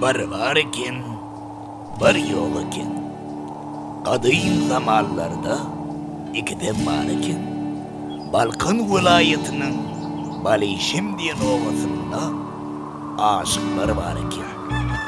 Bir bar eken, bir ýok eken. Gadym zamanlarda ikidem bar eken. Balkan welaýatynyň Balyşem diýen obasynda aşyklar bar eken.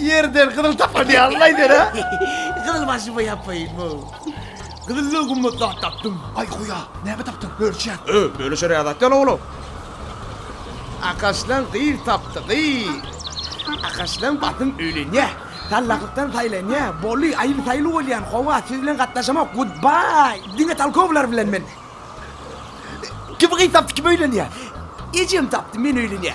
Ýerden gyzyl tapar diýýär, Alla eder-ä. Gyzyl başyma ýapaýyn, wow. Gyzyldan gymmat zat tapdym. Aý huýa, näme tapdyň, bölüşýäs. Öý, bölüşerýä zat ýaly oglum. Akaşlan gyz tapdy, gyz. Akaşlan basym öýlenýä. Tallakykdan saýlanýa, boly, aýly saýly bolýan, howa, siz bilen gatnaşamok, gudbaý. Diňe talkowlar bilen men. Kim gyz tapdy, kim öýlenýä? Ejem tapdy, men öýlenýä.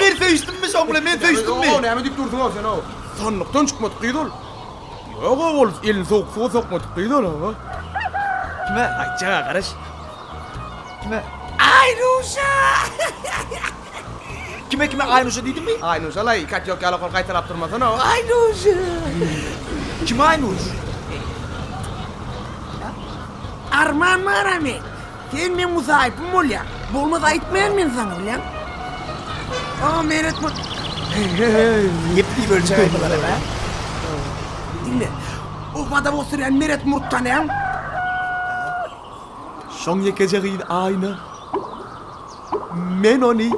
Men söýüşdimmi şoň bilen, men söýüşdimmi? O, näme diýip dursuň-ow sen-ow? Sandykdan çykmadyk gyz ol. Ýog-ow, ol elini sowuk suwa sokmadyk gyz ol, hawa. Kime aýtjaga garaş. Kime? Aýnuşa! Kime, kime Aýnuşa diýdimmi? Aýnuşa-laý, katýok ýaly okol gaýtalap durmasana-ow. Aýnuşa! Kim Aýnuş? Arman Maramen! Sen meň musaýypym bolýaň. Bolmasa aýtmaýan men saňa bilýäň. A men etme. Nep diýip ölçäýin bulara be. Diňle. Obada oturýan Meret Murt tanaýaň. Şoň ýekeje gyz Aýna. Men ony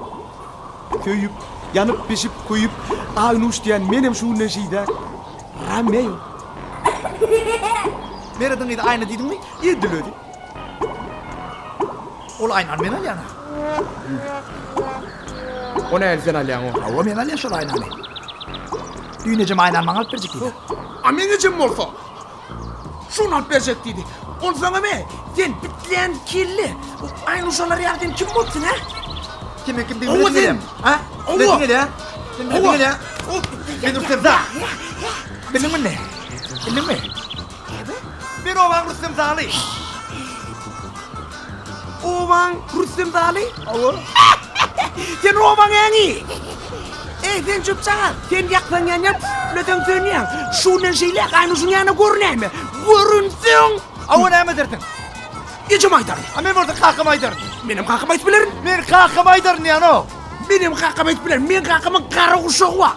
söýüp, ýanyp bişip köýüp, Aýnuş diýen menem şu günden şeýdä Romeo. Merediň gyzy Aýna diýdiňmi? Edil özi. Ol aýnany men alýan-a. O näni sen alýaň-ow? Hawa, men alýan şol aýnany. Düýn ejem aýnany maňa alyp berjek diýdi. A meň ejem bolsa, şuny alyp berjek diýdi. Ol saňa me? Sen bitlän kelle, bu aýnuşalar ýaly sen kim bolupsyň, a? Sen meni kim diýip bilesiň gelýä? A? Bilesiň gelýä? Sen bilesiň gelýä? Sen ursakda. Bildiňmi indi? Bildiňmi? Näme? Men obaň Rüstem Zaly. Obaň Rüstem Zaly? Hawa. Sen obaň äňi. Eý, sen çöpjagaz, sen ýaksaň ýanýaň, tütleseň sönýäň. Şu günden şeýle gaýnuşyň ýanyna görünäýme. Görünseň! Hawa, näme edersiň? Ejeme aýdaryn. A men bolsa kakama aýdaryn. Menem kakama aýdyp bilerin. Men kakama aýdaryn diýýän-ow. Menem kakama aýdyp bilerin. Meň kakamyň gara guşagy bar.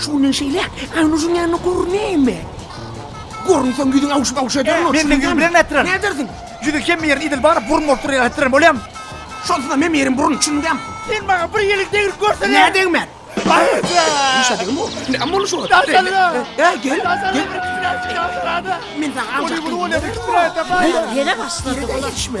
Şu günden şeýle, Aýnujyň ýanyna görünäýme. Görünseň, ýüzüň awşyp-awşy ederin, oç. Menden ýüz bilen nätdirin? Nädersiň? Ýüzi hemme ýerin idil baryp, burun bolup durýar, ätdiren bolýam. Şonsuzam hemme ýerim burun, düşündem. Sen maňa bir ýelik degrip görsene! Nä degmän? Işe degme ol. Näme boldy şu? Ä-ä, gel, gel. Men saňa aljakdym. Ýene başlady olar. Ýere-ýere ýetişme.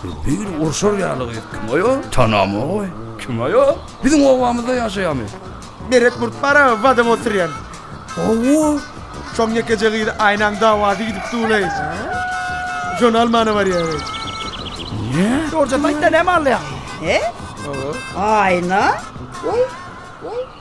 Siz biri urşar ýaly gyz kim oýo? Tanamagoý. Kim oýo? Biziň obamyzda ýaşaýamy? Meret Murt bara badam oturýan. Hawa. Şoň ýekeje gyzy Aýnaň dawasy gidip duwlay. Şony almana barýaly. Nä? Dogruja-da aýtda näme alýaň? He? Aýna? Woý, woý.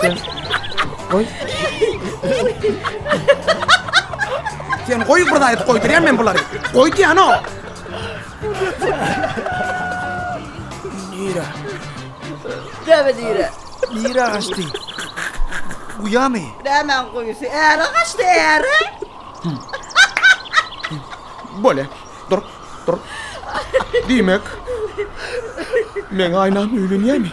Sen... Goý. Sen goý bir zaýyp goýdurýan men bulary. Goý diýän o. Nira. Däbe nira. Nira gaçdy. Guyamy? Nämen goýusy? Äre gaçdy, äre. Bole. Dur, dur. Diýmek. Men aýnam öýlenýärmi?